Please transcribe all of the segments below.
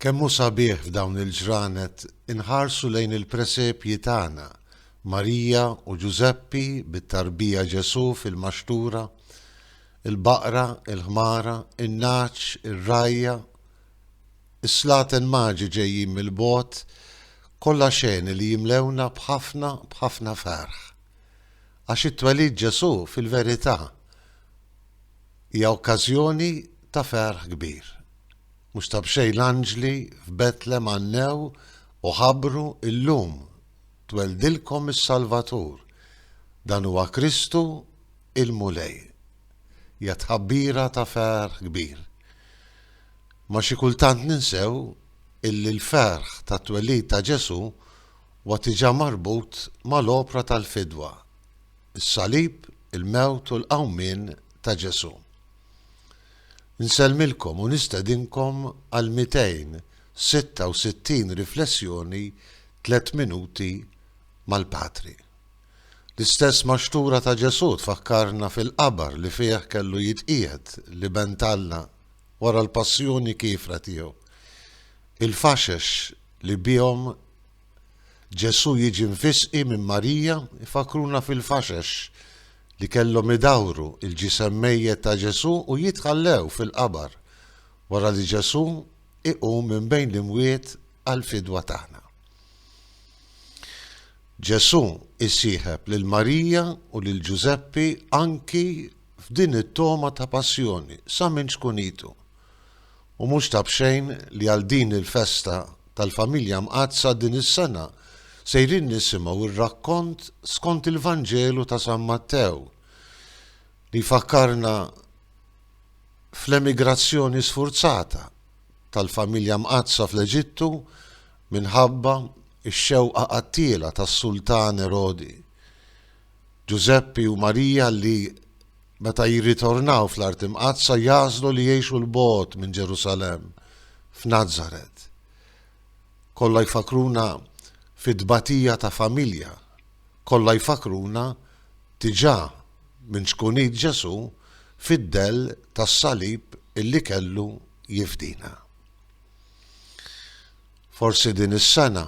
Kemm hu sabiħ f'dawn il-ġranet inħarsu lejn il-presepji tagħna, Marija u Ġużeppi bit-tarbija Ġesù fil-maxtura, il-baqra, il-ħmara, in-nagħaġ, ir-rgħajja, is-slaten maġi ġejjin mill-bogħod, kollha xeni li jimlewna b'ħafna, b'ħafna ferħ. Għax it-twelid Ġesù fil-verità. Hija okkażjoni ta' ferħ kbir. Mhux ta' b'xejn l-anġli f'Betlem għannew u ħabbru, Illum tweldilkom is-Salvatur, dan huwa Kristu il-Mulej. Hija tħabbira ta' ferħ kbir. Ma xi kultant ninsew illi l-ferħ tat-twelid ta' Ġesù huwa tiġà marbut mal-opra tal-fidwa. Is-salib, il-mewt u l-qawmien ta' Ġesù. Nsellmilkom u nistedinkom għal 266 riflessjoni Tliet Minuti mal-Patri. L-istess maxtura ta' Ġesù tfakkarna fil-qabar li fih kellu jitqiegħed l-Iben t'Alla wara l-passjoni kiefra tiegħu, il-faxex li bihom Ġesù jiġi mfissqi minn Marija jfakkruna fil-faxex li kellhom idawru l-ġisem mejjet ta' Ġesù u jitħallew fil-qabar wara li Ġesù iqum minn bejn l-imwiet għall-fidwa tagħna. Ġesù jsieħeb lil Marija u lil Ġużeppi anki f'din it-togħma ta' passjoni sa minn ċkunitu. U mhux ta' b'xejn li għal din il-festa tal-Familja Mqaddsa din is-sena sejrin nisimgħu r-rakkont skont il-Vanġelu ta' San Mattew li jfakkarna fl-emigrazzjoni sfurzata tal-Familja Mqaddsa fl-Eġittu minħabba x-xewqa qattiela tas-Sultan Erodi. Ġużeppi u Marija li Meta jirritornaw fl-Art Imqaddsa jagħżlu li jgħixu 'l bogħod minn Ġerusalemm, f'Nazaret. Kollha jfakkruna fit-tbatija ta' familja. Kollha jfakkruna diġà minn ċkunit Ġesù fid-dell tas-salib illi kellu jifdina. Forsi din is-sena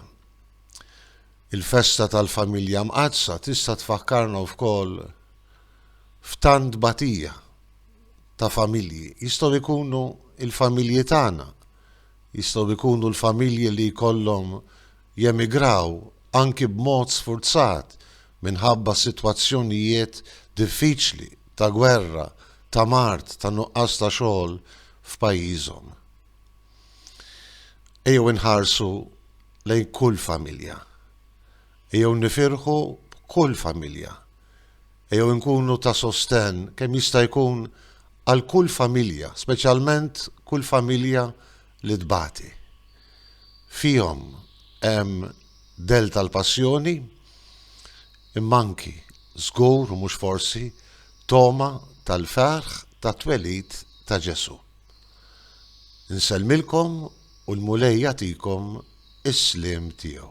il-festa tal-familja mqaddsa tista' tfakkarna wkoll f'tant tbatija ta' familji. Jistgħu jkunu l-familji tagħna, jistgħu jkunu l-familji li jkollhom jemigraw anki b'mod sfurzat minħabba sitwazzjonijiet diffiċli ta' gwerra, ta' mard, ta' nuqqas ta' xogħol f'pajjiżhom. Ejjew inħarsu lejn kull familja. Ejjew nifirħu b'kull familja. Ejjew inkunu ta' sostenn kemm jista' jkun għal kull familja, speċjalment kull familja li tbati. Fihom hemm dell tal-passjoni, imma anki, żgur u mhux forsi, togħma tal-ferħ tat-twelid ta' Ġesù. Insellmilkom u l-Mulej jagħtikom is-sliem tiegħu.